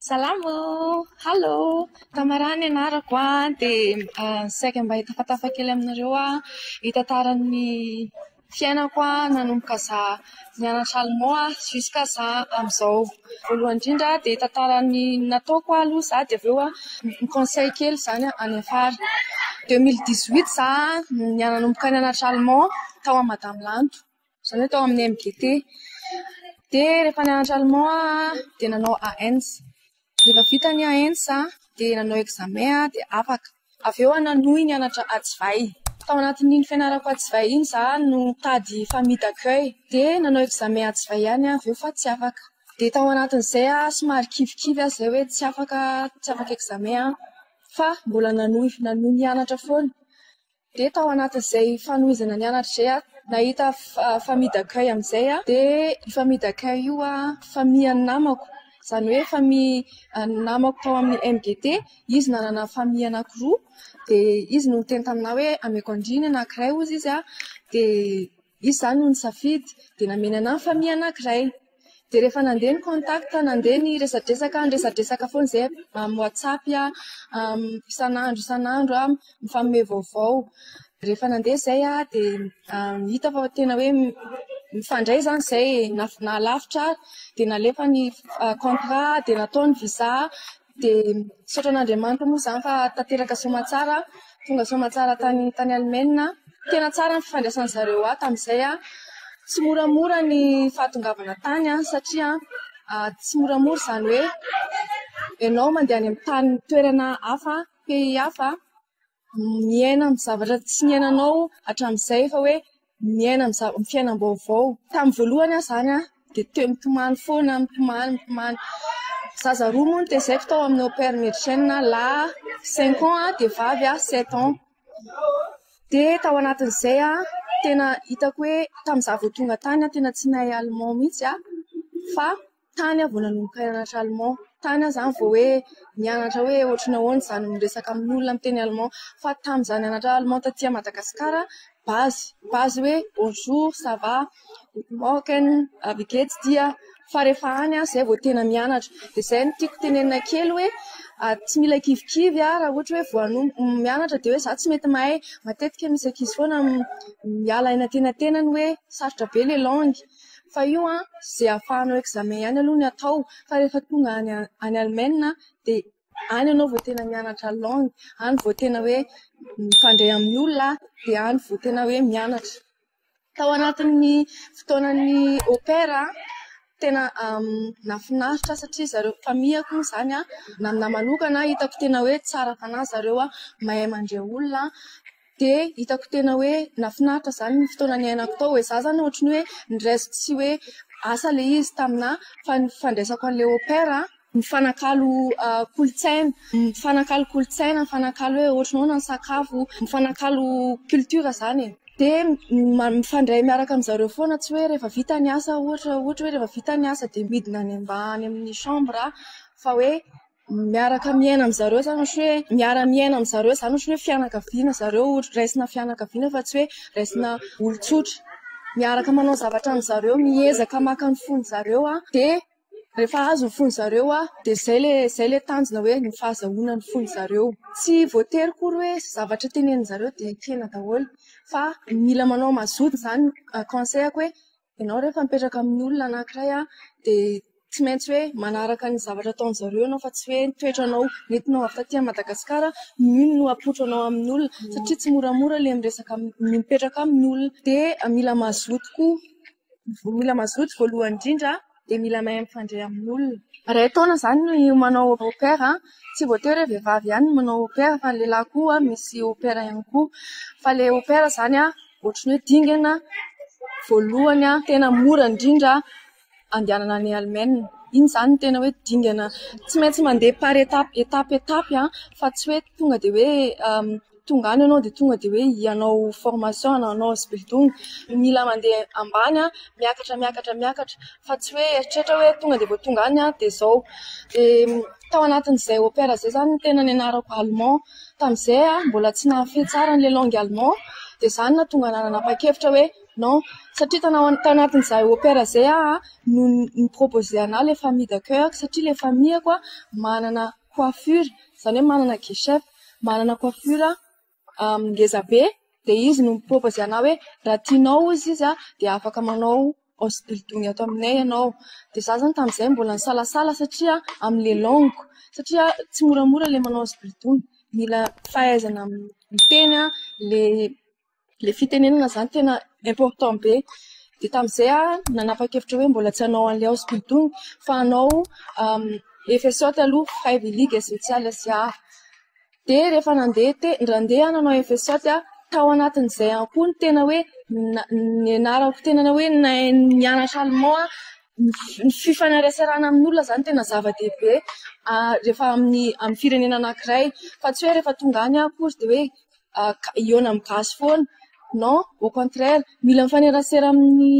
Salama oo! Halo! Tamara ny anarako an, dia saika mba hitafatafa kely aminareo aho hitantara ny fiainako nanomboka za nianatra allemand an, jusqu'à za amin'izao. Voalohany indrindra dia hitantara ny nataoko aloha za dia avy eo ny conseil kely izany any afara. Deux mille dix huit za no nanomboka nianatra allemand tao amin'i madame lanto. Zany hoe tao amin'ny MGT. Dia rehefa nianatra allemand aho dia nanao AENS. Rehefa vita ny AENS aho dia nanao examen aho dia afaka. Avy eo aho nanohy nianatra antsivay. Tao anatin'iny fianarako antsivay iny izaho no nitady famille d'accueil. Dia nanao examen antsivay ihany aho avy eo fa tsy afaka. Dia tao anatin'izay aho somary kivikivy aho izay hoe tsy afaka tsy afaka examen aho fa mbola nanohy nanohy nianatra foana. Dia tao anatin'izay fanohizana nianatra izay aho nahita famille d'accueil amin'izay aho dia io famille d'accueil io famille an'ny namako izany hoe famille an'ny namako tao amin'ny MGT. Izy nanana famille anankiroa dia izy no niteny taminà hoe ameko an-driny anankiray hozy izy dia Izy izany no nisafidy, dia nameny anà ny famille anankiray. Dia rehefa nandeha ny contact, nandeha ny resadresaka, niresadresaka foana izahay amin'ny WhatsApp, isan'andro isan'andro mifanome vaovao. Rehefa nandeha izay dia hita fa tena hoe mifandray izany izay e. Nahalavitra ary dia nalefa ny contrat, dia natao ny visa. Dia misaotra an'Andriamanitra moa izany fa tanteraka soamantsara, tonga soamantsara tany tany Alemaina. Tena tsara ny fifandraisan'ny zareo ahy tamin'izay. Tsy moramora ny fahatongavana tany satria tsy moramora izany hoe ianao mandeha any amin'ny tany toerana hafa, pays hafa. miaina amin'ny zavatra tsy niainanao hatramin'izay fa hoe miaina amin'ny zava- fiainam-baovao. Tamin'ny voalohany aho izany dia te mitomany foana, mitomany, mitomany. Zaza roa moa no tezaiko tao amin'ny Au Pair Médecin, lahy cinq ans dia vavy sept ans. Dia tao anatin'izay tena hitako hoe tamin'izaho vao tonga tany tena tsy nahay allemand mihitsy aho fa Tany aho vao nanomboka nianatra allemand, tany aho izany vao hoe nianatra hoe ohatry ny ahoana izany miresaka amin'olona miteny allemand. Fa tamin'ny izaho nianatra allemand taty Madagasikara, base, base hoe bonjour, ça va, guten morgen, wie gehts dir. Fa rehefa any aho izay vao tena mianatra. Dia izay no tiako tenenina kely hoe tsy mila kivikivy raha ohatra hoe vao hanomboka mianatra dia hoe izaho tsy mety mahay. Matetika misy ankizy foana miala any antenantenany hoe sarotra be ilay langue. Fa io an, izay afahanao examen ihany aloha ny atao fa rehefa tonga any any Alemaina dia any ianao vao tena mianatra langue, any vao tena hoe mifandray amin'ny olona dia any vao tena hoe mianatra. Tao anatin'ny fotoanan'ny au pair an, tena nahafinaritra ahy satria zareo famille ko izany an, na ny ahy manokana hitako tena hoe tsara fanahy zareo an, mahay mandre olona. dia hitako tena hoe nahafinaritra izany ny fotoana niainako tao e, za zany ohatry ny hoe niraiso tsy hoe asa ilay izy taminà fa ny fandraisako an'ilay au pair an, mifanakalo kolontsaina, mifanakalo kolontsaina, mifanakalo hoe ohatry ny ahoana ny sakafo, mifanakalo culture izany e, dia mifandray miaraka amin-dry zareo foana tsy hoe rehefa vita ny asa ohatra, ohatra hoe rehefa vita ny asa dia midina any mba any amin'ny chambre fa hoe miaraka miaina amin-dry zareo izany ohatry ny hoe miara-miaina amin-dry zareo izany ohatry ny hoe fianakaviana ry zareo, raisina fianakaviana fa tsy hoe raisina olon-tsotra. Miaraka manao zavatra amin-dry zareo, miezaka maka ny fon-dry zareo dia rehefa azo ny fon-dry zareo dia izay ilay izay ilay tanjona hoe ny fahazahoana ny fon-dry zareo. Tsy voatery akory hoe izay zavatra tenenin-dry zareo dia ekena daholo fa mila manao mazoto izany. Conseil-ko hoe Ianao rehefa mipetraka amin'ny olona anankiray dia tsy maintsy hoe manaraka ny zavatra ataon-dry zareo ianao fa tsy hoe ny toetranao nentinao avy taty Madagasikara no iny no apoitranao amin'ny olona satria tsy moramora ilay miresaka amin'ny olona, mipetraka amin'ny olona. Dia mila mazoto koa, mila mazoto voalohany indrindra. dia mila mahay mifandray amin'olona. Iray taona izany ny manao au pair, tsy voatery hoe vehivavy ihany no manao au pair fa ny lehilahy koa misy au pair ihany koa. Fa ilay au pair izany ohatry ny hoe dingana voalohany tena mora indrindra andehanana any Allemagne. Iny izany no tena hoe dingana tsy maintsy mandeha par étape étape étape fa tsy hoe tonga dia hoe Tonga any ianao dia tonga dia hoe hanao formation na hanao hosbildung. Mila mandeha ambany, miakatra, miakatra, miakatra fa tsy hoe eritreritra hoe tonga dia vao tonga any dia izao. Dia tao anatin'izay au pair izay izany no tena nianarako allemand. Tamin'izay aho mbola tsy nahafehy tsara an'ilay langue allemand dia izany no nahatonga ahy nanapa-kevitra hoe non. Satria tana- tao anatin'izay au pair izay aho no ni-proposer anà ilay famille d'accueil-ko satria ilay famille-ko manana coiffure, izany hoe manana geisha. manana coiffure ngeza be dia izy no mi-propose anao hoe raha tianao hozy izy dia afaka manao hausse-bridou-ny ato aminay ianao. Dia izaho izany tamin'izay mbola nisalasala satria amin'ilay langue, satria tsy moramora ilay manao hausse-bridou-ny. Mila fahaizana miteny ilay... ilay fitenenana izany tena important be. Dia tamin'izay aho nanapa-kevitra hoe mbola tsy hanao an'ilay ao Sbidon fa hanao FSOT aloha, Freiwillige Soziales Jahr. Dia rehefa nandeha te- nandeha aho nanao FSOT, tao anatin'izay ihany koa ny tena hoe na- nianarako tena hoe nahay nianatra alemà aho. Ny fi- ny fifaneraserana amin'olona izany tena zava-dehibe rehefa amin'ny amin'ny firenena anankiray. Fa tsy hoe rehefa tonga any aho akory dia hoe... hihaona amin'ny gasy foana non au contraire mila mifanerasera amin'ny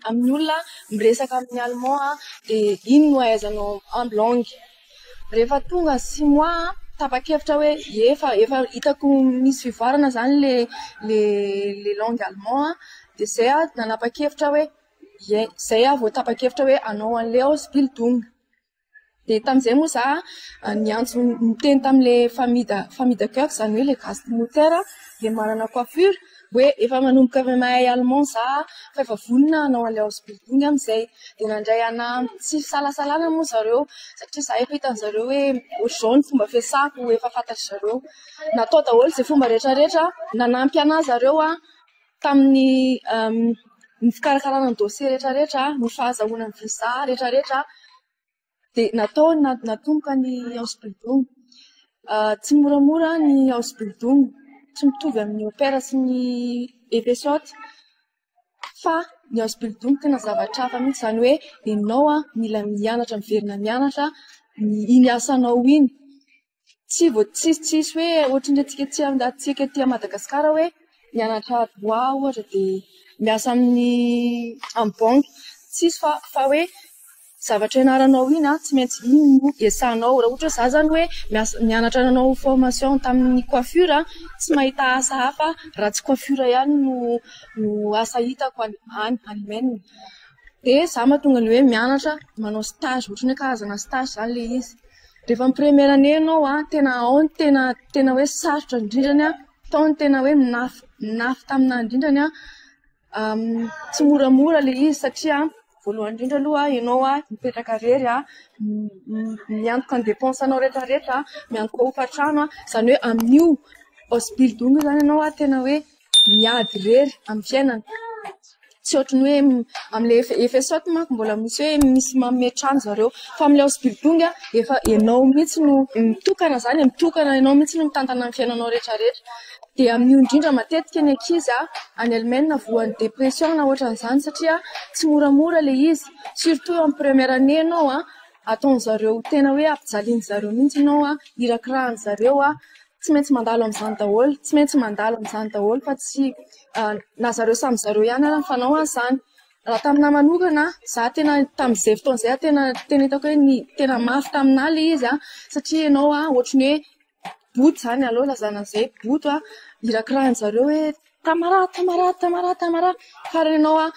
amin'ny olona miresaka amin'ny allemand aho dia iny no ahaizanao en blanc rehefa tonga six mois aho tapa-kevitra hoe ie efa efa hitako misy fivoarana izany ilay ilay ilay langue allemand aho dia izay aho nanapa-kevitra hoe ie izay aho vao tapa-kevitra hoe hanao an'ilay ausbildung dia tamin'izay moa za niantso niteny tamin'ilay famida famida coeur izany hoe ilay gasy promoteur ilay manana coiffure hoe efa manomboka avy mahay allemand za fa efa vonona hanao an'ilay house building amin'izay dia nandray ahy nahandro tsy fisalasalana moa zareo satria za efa hitan'ny zareo hoe ohatr'izao ny fomba fiasako efa fantatry zareo natao daholo izay fomba rehetra rehetra nanampy an'ahy zareo an Tamin'ny ny fikarakarana ny dosie rehetra rehetra, ny fahazahoana ny visa rehetra rehetra dia natao natomboka ny House Building. Tsy moramora ny House Building, tsy mitovy amin'ny Opera sy ny Efesotra fa ny House Building tena zavatra hafa mihitsy. Izany hoe ianao mila mianatra miverina mianatra iny asanao iny. tsy vao tsy tsisy hoe ohatran'ny antsika aty amin'ny rahatsika aty Madagasikara hoe mianatra droit ohatra dia miasa amin'ny amin'ny banky. Tsisy fa fa hoe zavatra ianaranao iny an, tsy maintsy iny no iasanao. Raha ohatra hoe izaho izany hoe miasa nianatra nanao formation tamin'ny coiffure an, tsy mahita asa hafa raha tsy coiffure ihany no no asa hitako any any any Maine. Dia izaho mahatonga ny hoe mianatra manao stage ohatran'ny hoe karazana stage izany ilay izy. Rehefa mi-première année ianao an, tena ao ny tena tena hoe sarotra indrindra ny an, tao ny tena hoe mnafy mnafy taminà indrindra ny an, tsy moramora ilay izy satria voalohany indrindra aloha ianao an mipetraka irery an, miantoka ny dépenses anao rehetrarehetra an, miantoka hofantrano an, izany hoe amin'io possibilité io izany ianao an tena hoe miady irery amin'ny fiainana. Tsy ohatry ny hoe amin'ilay efa efa esotre manko mbola misy hoe misy manome trano zareo fa amin'ilay house building efa ianao mihitsy no mitokana izany e, mitokana ianao mihitsy no mitantana ny fiainanao rehetrarehetra. Dia amin'io indrindra matetika ny ankizy any Allemagne no voan'ny dépression na ohatran'izany satria tsy moramora ilay izy, surtout amin'ny première année ianao ataon'izareo tena hoe ampijalian'izareo mihitsy ianao, irakirahan'izareo. tsy maintsy mandalo amin'izany daholo, tsy maintsy mandalo amin'izany daholo fa tsy na zareo samy zareo ihany ary ny fanao azy izany. Raha tamin'ahy manokana, za tena tamin'izay fotoana izay tena tena hitako hoe ny tena mafy tamin'ahy ilay izy satria ianao ohatry ny hoe boto izany, aleo lazaina an'izay boto an, irakirahan'izareo hoe Tamara, Tamara, Tamara, Tamara. Fa raha ianao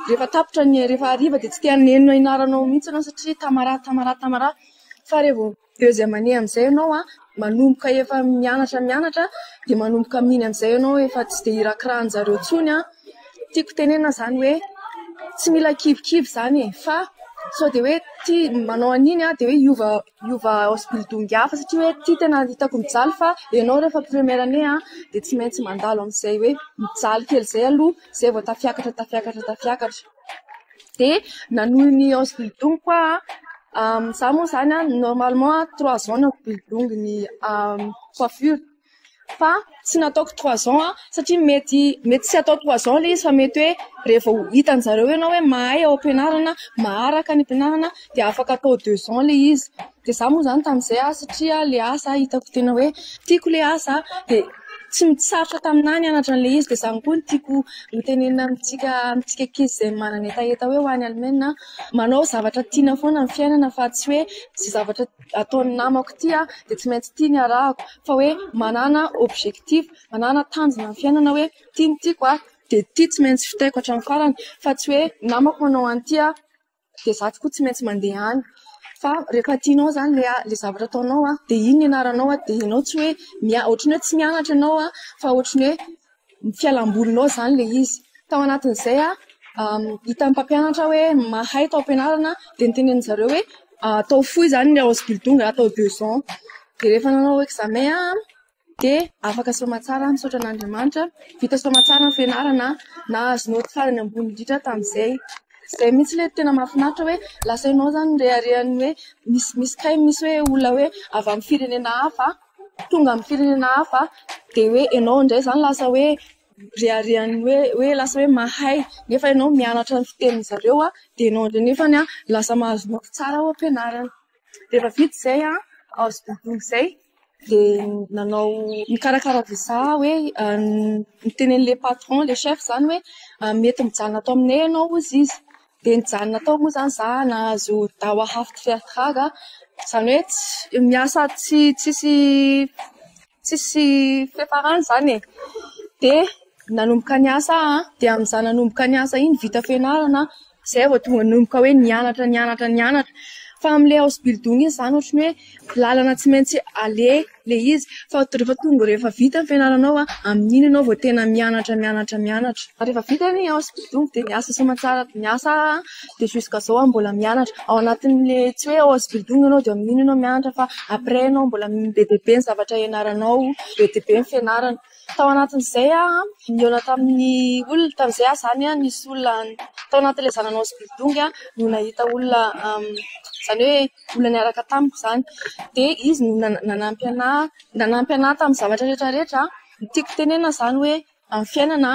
rehefa tapitra ny, rehefa hariva dia tsy te haneno ny anaranao mihitsy ianao satria Tamara, Tamara, Tamara. Fa raha vao Deuxième année amin'izay ianao an, manomboka efa mianatra mianatra dia manomboka amin'iny amin'izay ianao efa tsy dia irakirahan'ny zareo intsony an, tiako tenenina izany hoe tsy mila kivikivy izany e! fa sao dia hoe tia manao an'iny an dia hoe hiova hiova hospital-dongy hafa satria hoe ity tena hitako mijaly fa ianao rehefa première année an dia tsy maintsy mandalo amin'izay hoe mijaly kely izay aloha izay vao tafiakatra tafiakatra tafiakatra. dia nanohy ny hausse du double koa aho, izaho moa izany an, normalement trois ans no ampidiniko ny coiffure fa tsy nataoko trois ans aho satria mety mety tsy atao trois ans ilay izy fa mety hoe rehefa ho hitan-dry zareo ianao hoe mahay ao am-pianarana, maharaka ny am-pianarana dia afaka atao deux ans ilay izy. Dia izaho moa izany tamin'izay an, satria ilay asa hitako tena hoe tiako ilay asa dia tsy sarotra taminà ny hanatra an'ilay izy. Dia izany koa no tiako hotenenina amintsika amintsika ankizy izay manana hetaheta hoe ho any Alemaina, manao zavatra tiana foana ny fiainana fa tsy hoe izay zavatra ataon'ny namako ity an, dia tsy maintsy ity no arahako. Fa hoe manàna objectif, manàna tanjona amin'ny fiainana hoe ity no tiako an, dia ity tsy maintsy vitaiko hatramin'ny farany. Fa tsy hoe ny namako manao an'ity an. dia za tokoa tsy maintsy mandeha any fa rehefa tianao izany ilay ilay zavatra ataonao an, dia iny ny anaranao an, dia ianao tsy hoe mianatra, ohatry ny hoe tsy mianatra ianao an, fa ohatry ny hoe fialam-bolinao izany ilay izy. Tao anatin'izay an, hitan'ny mpampianatra hoe mahay tao am-pianarana dia notenenin'i zareo hoe atao fohy izany ny Ausbildung atao deux ans. Dia rehefa nanao examen aho an. dia afaka soamantsara aho misaotra an'Andriamanitra vita soamantsara ny fianarana na azo notifier ny ambony indrindra tamin'izay izay mihitsy ilay tena mahafinaritra hoe lasa ianao izany reharehan'ny hoe misy misy kay misy hoe olona hoe avy amin'ny firenena hafa tonga amin'ny firenena hafa dia hoe ianao indray izany lasa hoe reharehan'ny hoe hoe lasa hoe mahay nefa ianao mianatra ny fitenin'izareo dia ianao indray nefany an lasa mahazo nofy tsara ao am-pianarana dia efa vita izay an, azo dodoma izay dia nanao mikarakara visa hoe niteny an'ilay patron ilay chef izany hoe mety mijanona ato aminay ianao hozy izy dia nijanona tao moa izany za nahazo dawa hafty fiatrada izany hoe miasa tsy tsisy Tsisy fiafarany izany e! Dia nanomboka ny asa aho an, dia amin'izaho nanomboka ny asa iny vita fianarana aho, izay vao tonga nanomboka hoe nianatra nianatra nianatra. Fa amin'ilay house building iny izany ohatran'ny hoe lalana tsy maintsy aleha ilay izy, fa rehefa tonga rehefa vita ny fianaranao an, amin'iny ianao vao tena mianatra mianatra mianatra. Ary rehefa vita ny house building dia niasa soamantsara niasa aho an. dia jusqu'à zao aho mbola mianatra ao anatin'le tsy hoe ao Sbldung ianao dia amin'iny ianao mianatra fa après ianao mbola be dia be ny zavatra hianaranao be dia be ny fianarana tao anatin'izay aho nihaona tamin'ny olona tamin'izay aho izany aho nisy olona tao anatin'le zanany ao Sbldung aho no nahita olona izany hoe olona niaraka tamiko izany dia izy no nanampy anah nanampy anah tamin'ny zavatra rehetra rehetra ny tiako tenenana izany hoe Ny fiainana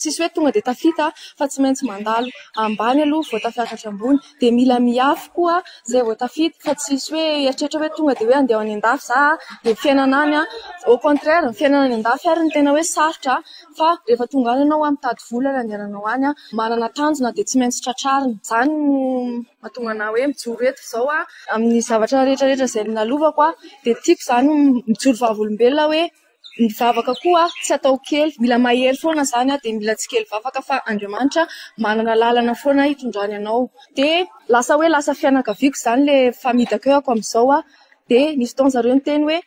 tsisy hoe tonga dia tafita fa tsy maintsy mandalo ambany aloha vao tafiakatra ambony dia mila miafy koa izay vao tafita fa tsisy hoe hieritreritra hoe tonga dia hoe handeha any an-dafy za dia ny fiainana any au contraire ny fiainana any an-dafy ary no tena hoe sarotra fa rehefa tonga any ianao mitady vola ny handehananao any manana tanjona dia tsy maintsy tratrarina izany no mahatonga anah hoe mijoro eto izao amin'ny zavatra rehetra rehetra izay nonalovako dia tiako izany mijoro vavolombelona hoe Ny vavaka koa tsy atao kely, mila mahery foana izany dia mila tsy kely vavaka fa Andriamanitra manana lalana foana hitondrany anao. Dia lasa hoe lasa fianakaviako izany ilay famidakehako amin'izao aho. Dia nisy fotoana ry zareo niteny hoe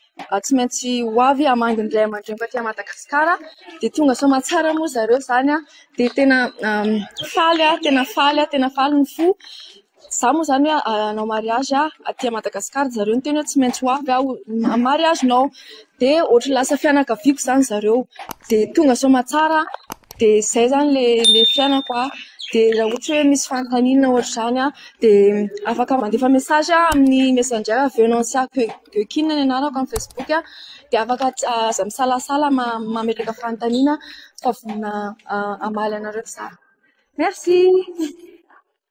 tsy maintsy ho avy hamangy ny ray aman-dreniko aty Madagasikara. Dia tonga soamantsara moa ry zareo izany dia tena faly aho, tena faly aho, tena faly ny fo. Izaho moa izany hoe hanao mariazy aty Madagasikara dia ry zareo niteny hoe tsy maintsy ho avy aho amin'ny mariazinao. Dia ohatran'ny lasa fianakaviako izany ry zareo. Dia tonga soamantsara aho dia izay izany ilay fiainako. Dia raha ohatra hoe misy fanontaniana ohatr'izany dia afaka mandefa mesazy amin'ny messenger Venancia Geokin ny anarako amin'ny facebook. Dia afaka aza misalasala mametraka fanontaniana fa vonona hamaly anareo izaho. Merci.